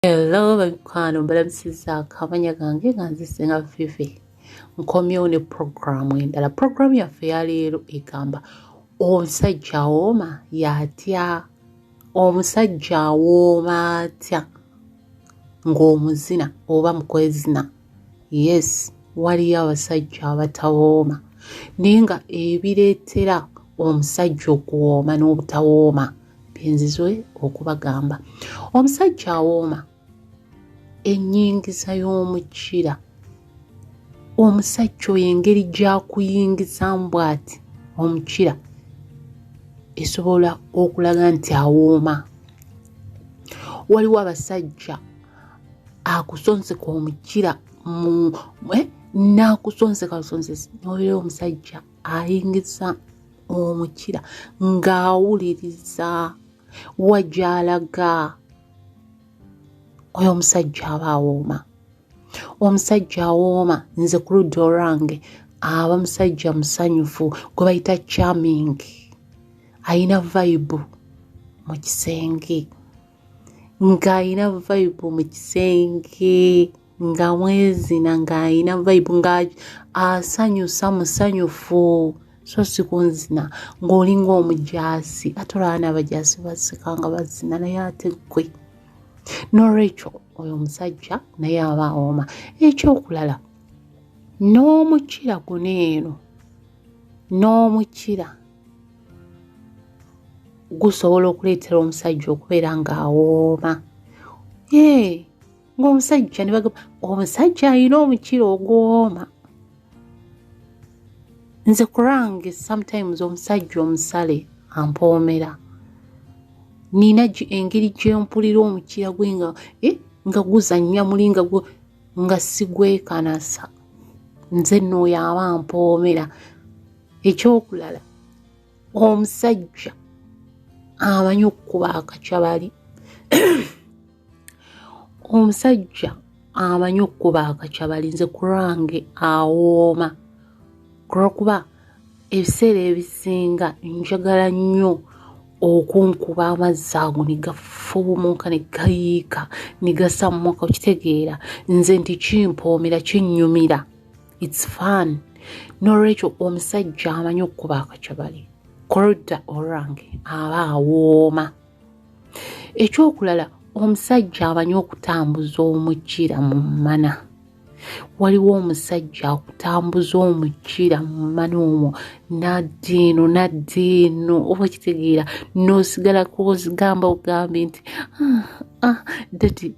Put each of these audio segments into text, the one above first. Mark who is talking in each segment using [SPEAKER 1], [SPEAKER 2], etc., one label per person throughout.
[SPEAKER 1] hello babikwano mbalabisiza akabanya gange nga nzisinga fifi nkomyewo ne puroguramu endala puroguramu yaffe yaleero egamba omusajja awooma yatya omusajja awooma atya ng'omuzina oba mukwezina yes waliyo abasajja abatawooma naye nga ebireetera omusajja okuwooma n'obutawooma no byenzizwe okubagamba omusajja awooma enyingiza y'omukira omusajja oyo engeri gyakuyingizamu bwati omukira esobola okulaga nti awooma waliwo abasajja akusonseka omukira eh, n'akusonseka busonsesi nobeera omusajja ayingiza omukira ng'awuliriza wajalaga oyo omusajja aba awooma omusajja awooma nze ku ludda olwange aba musajja musanyufu gwe bayita charming ayina vayibu mu kisenge ng'ayina vayibu mu kisenge nga mwezina ng'alina vibe nga asanyusa musanyufu so sikunzina ng'olinga omujaasi ate olaba n'abajaasi basika nga bazina naye ate gwe nolwekyo oyo omusajja naye aba awooma ekyokulala n'omukira guno eno n'omukira gusobola okuleetera omusajja okubeera ng'awooma ee ng'omusajja ne bagamba omusajja alina omukira ogwoma nze kurange sometimes omusajja omusale ampoomera nina engeri gyempulira omukira gwe nga eh, nga guzannya muli nga nga sigwekanasa nze nooyo aba mpoomera ekyokulala omusajja amanyi okukuba akacabali omusajja amanyi okukuba akakyabalinze kurange awooma kulwokuba ebiseera ebisinga njagala nnyo okunkuba amazzi ago ne gafuumuuka ne gayiika ne gasammuka okitegeera nze nti kimpoomera kinnyumira its fun n'olwekyo omusajja amanyi okukuba akakyabali korda orange aba awooma ekyokulala omusajja abanyi okutambuza omukira mu mana waliwo omusajja akutambuza omukira mu mana omwo naddiino naddiino oba kitegeera n'osigala kuozigamba ogambye nti ah, ah, dadi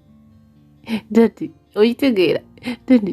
[SPEAKER 1] dadi oyitegeera dadi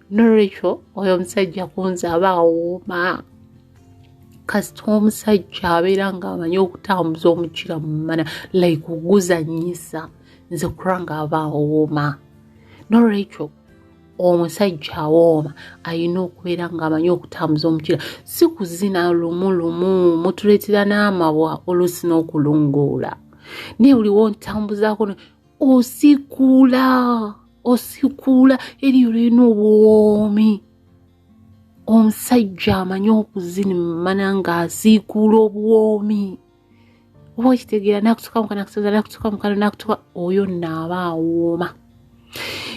[SPEAKER 1] nolwekyo oyo omusajja kunze aba awooma kasita omusajja abeera ngaamanyi okutambuza omukira mu mana like oguzanyisa nze kura nga aba awooma nolwekyo omusajja awooma alina okubeera ngaamanyi okutambuza omukira si kuzina lumu lumu mutuleetera n'amabwa olusi n'okulungoola naye buliwo ntambuzaako osikula osikula eriyo lirina obwomi omusajja amanyi okuzinimana ng'asiikuula obwomi oba okitegeera nakutuka mukana nakutuka nakutuka mukana nakutuka oyo naaba awooma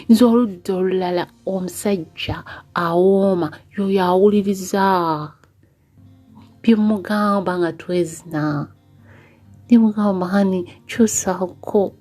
[SPEAKER 1] nze oludda olulala omusajja awooma yoyo awuliriza byemugamba nga twezina nemugamba hani kyusako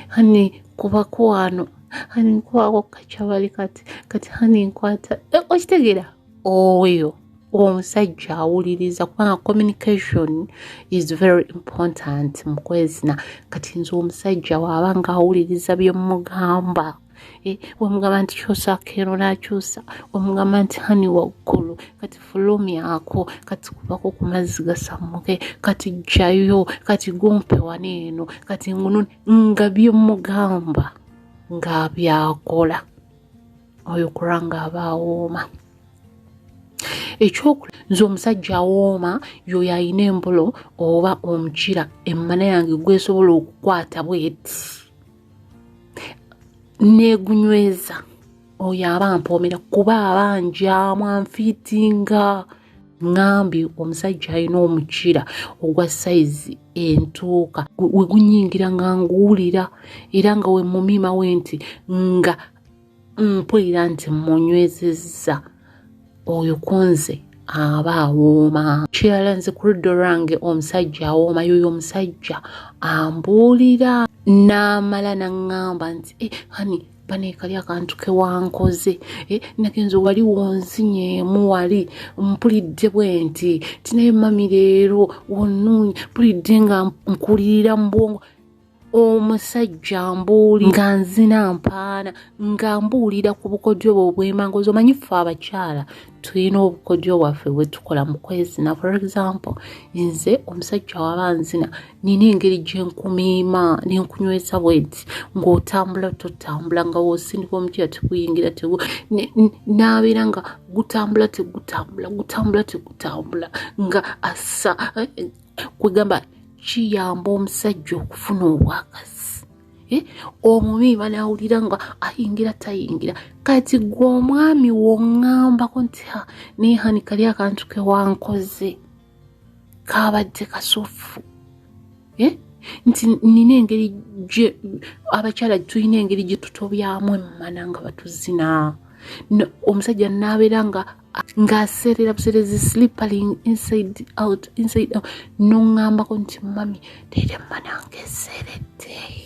[SPEAKER 1] hani kubako wano hani nkwako kacabali kati kati hani nkwata e, okitegera oyo omusajja awuliriza kubanga communication is very important mukwezina kati nze omusajja waaba nga awuliriza byemugamba Eh, wamugamba nti kyusa kero nakyusa wamugamba nti hani waggulu kati fulumyako kati kubako ku mazzi gasammuke kati jjayo kati gumpe wani eno kati ngunu nga byemugamba nga byakola oyo kura nga abaawooma ekyokula nze omusajja awooma yoyo alina embolo oba omukira emmana yange gwesobola okukwata bweti negunyweza oyo aba mpoomera kuba aba njamu anfiitinga ŋambye omusajja alina omukira ogwa sayizi entuuka wegunyingira nga nguwulira era nga wemumiimawe nti nga mpulira nti munywezezza oyo kunze aba awooma kirala nze ku ludda olwange omusajja awooma yoyo omusajja ambuulira n'amala naŋŋamba nti e hani baneekali akantu kewankoze e eh, nagenza wali wonzinyeemu wali mpulidde bwe nti tinaye mami leero wonuunye mpulidde nga nkulirira mu bwongo omusajja mbuuli nga nzina mpaana nga mbuulira ku bukodyo bwe obw'emango zomanyi ffe abakyala tulina obukodyo bwaffe bwe tukola mu kwezina for example nze omusajja waba nzina nina engeri gye nkumiima ne nkunyweza bwenti ng'otambula totambula nga wosindika omukyala teguyingira tegu n'abeera nga gutambula tegutambula gutambula tegutambula nga assa eh, kwegamba kiyamba omusajja okufuna obwakazi eh? omubi banawulira nga ayingira tayingira kati gwe omwami wongambako nti ha naye hani kali akantu kewankoze kabadde kasufu eh? nti nina engeri abakyala tulina engeri gyetutobyamu emmana nga batuzina omusajja nabeera nga nga aseerera buseerezi slippering inside out inside out noŋambako nti mami tera manange eseeredde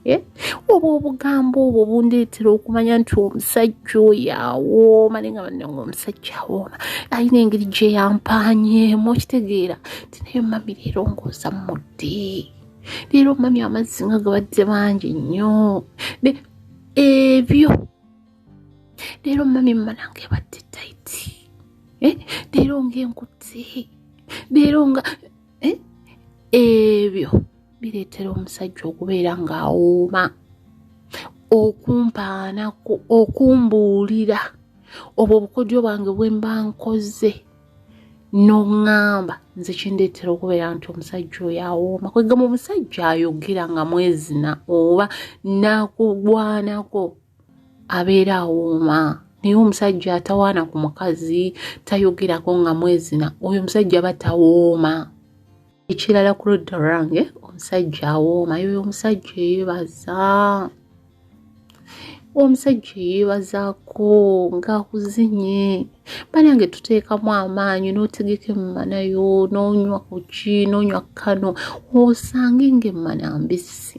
[SPEAKER 1] eh? oba obugambo obwo bundeetera okumanya nti omusajja oyo awooma naye nga banne nga omusajja awooma alina engeri gye yampanyeemu okitegeera ti naye mami leero ngooza mudde leero mami amazzi nga gabadde bangi nnyo ebyo leero mami mmanange ebadde taiti eh? leero ngaenkutte leero nga eh? ebyo bireetera omusajja okubeera ng'awooma okumpaana okumbuulira obwo obukodyo bwange bwe mba nkoze n'oŋŋamba nze kindeetera okubeera nti omusajja oyo awooma kwegamba omusajja ayogera nga mwezina oba nakugwanako abeera awooma naye omusajja atawaana ku mukazi tayogerako nga mwezina oyo omusajja aba tawooma ekirala ku ludda lwange omusajja awooma yoyo omusajja eyebaza omusajja eyebazaako ngaakuzinye banange tuteekamu amaanyi n'otegeka emmana yo n'onywa kuki n'onywa kano osange ng'emmana mbisi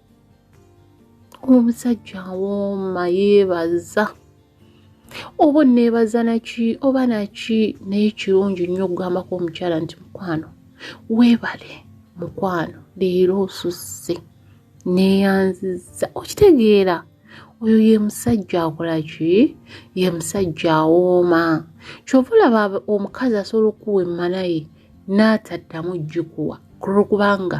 [SPEAKER 1] omusajja awooma yeebaza oba onneebaza naki oba naki naye kirungi nnyo okugambako omukyala nti mukwano weebale mukwano leero osusse neeyanziza okitegeera oyo ye musajja akola ki ye musajja awooma kyova olaba omukazi asobola okukuwa emmanaye n'ataddamu jjikuwa kulwokubanga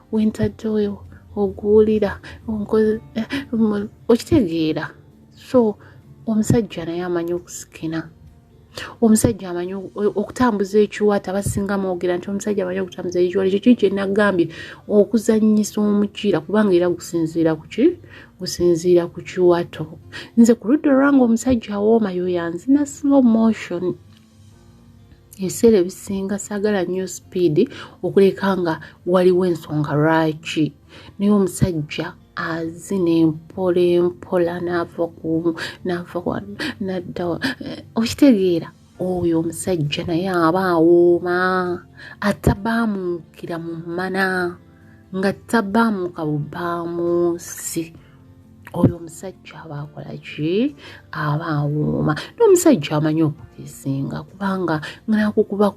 [SPEAKER 1] wentadde oyo oguwulira eh, okitegeera so omusajja naye amanyi okusikina omusajja amanyi okutambuza ekiwata basinga mwogera nti omusajja amanyi okutambuza ekiwata ekyo kiri kyenagambye okuzanyisa omukiira kubanga era gusinziira kuki gusinziira ku kiwato nze ku ludda olwanga omusajja awooma yoyanzina slow motion ebiseera ebisinga saagala nnyo sipiidi okuleka nga waliwo ensonga lwaki naye omusajja azina empola empola naava kumu naava wano nadda eh, okitegeera oyo omusajja naye aba awooma atabaamukira mu mana nga tabaamuka bubaamunsi oyo omusajja aba akola ki aba awooma n'omusajja amanyi okukisinga kubanga nakukuba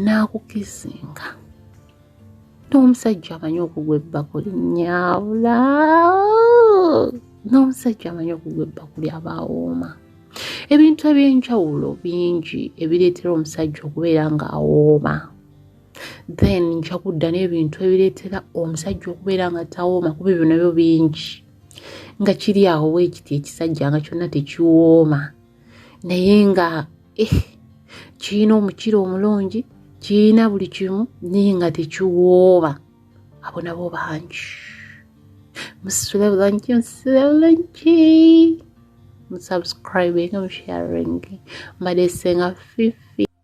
[SPEAKER 1] nakukisinga n'omusajja amanyi okugwa ebbako linyawula n'omusajja amanyi okugwa ebbako lyaba awooma ebintu ebyenjawulo bingi ebireetera omusajja okubeera ng'awooma then nja kudda n'ebintu ebireetera omusajja okubeera nga tawooma kuba ebyo nabyo bingi nga kiri awo weekiti ekisajja nga kyonna tekiwooma naye nga eh, kirina omukira omulungi kirina buli kimu naye nga tekiwooma abo nabo bangi musula bulangi musula bulangi musubscribing musharingi mbadde senga fifi